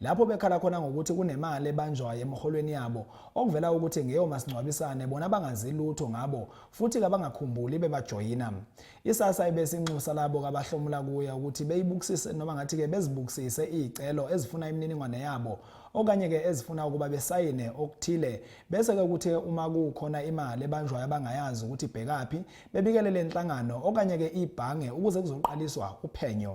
lapho bekhala khona ngokuthi kunemali ebanjwayo emholweni yabo okuvela ukuthi ngeyo masingcwabisane bona bangazi lutho ngabo futhi kabangakhumbuli bebajoyina isasa ibesinxusa labo kabahlomula kuye ukuthi beyibukisise noma ngathi-ke bezibukisise iy'celo ezifuna imininingwane yabo okanye-ke ezifuna ukuba besayine okuthile bese-ke kuthe uma kukhona imali ebanjwayo abangayazi ukuthi ibhekaphi bebikele le nhlangano okanye-ke ibhange ukuze kuzoqaliswa uphenyo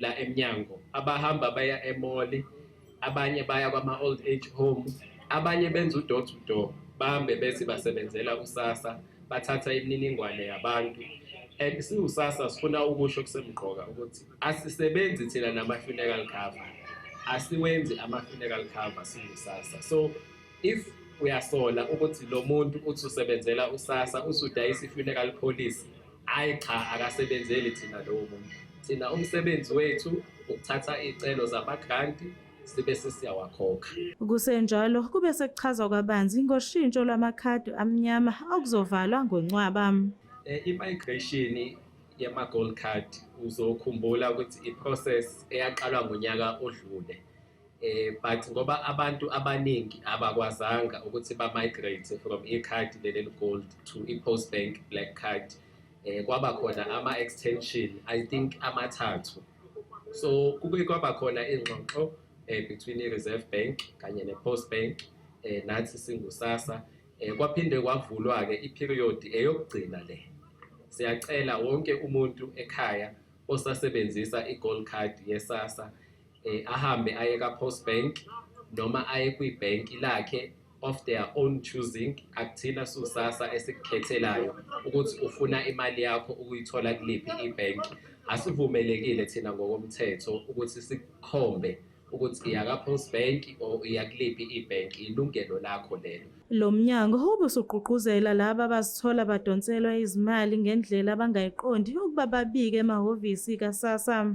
la emnyango abahamba baya emoli abanye baya kwama-old age home abanye benza udoor to door bahambe bezi basebenzela usasa bathatha imininingwane yabantu and siwusasa sifuna ukusho kusemqoka ukuthi asisebenzi thina nama-funeral cover asiwenzi ama-funeral cover siwusasa so if uyasola ukuthi lo muntu uthi usebenzela usasa usudayisa i-funeral policy hhayi cha akasebenzeli thina lowo muntu thina umsebenzi wethu ukuthatha iy'celo zamagranti sibe sesiyawakhokha kusenjalo kube sekuchazwa kwabanzi ngoshintsho lwamakhadi amnyama okuzovalwa ngoncwaba um i-migration yama-gold card uzokhumbula ukuthi i-process eyaqalwa ngonyaka odlule eh but ngoba abantu abaningi abakwazanga ukuthi ba migrate from e card leli gold to i post bank black card eh kwaba khona ama extension i think amathathu so kube kwaba khona ingxoxo eh between i reserve bank kanye ne post bank eh nathi singusasa eh kwaphinde kwavulwa ke i period eyokugcina le siyacela wonke umuntu ekhaya osasebenzisa i gold card yesasa eh, ahambe aye ka post bank noma aye kwi bank lakhe of their own choosing akuthina susasa esikukhethelayo ukuthi ufuna imali yakho ukuyithola kuliphi ibank asivumelekile thina ngokomthetho ukuthi sikhombe ukuthi iya ka post bank or iya kuliphi ibank ilungelo lakho lelo Lo mnyango ube usugqugquzela laba abazithola badonselwa izimali ngendlela abangayiqondi ukuba babike emahhovisi kaSassa.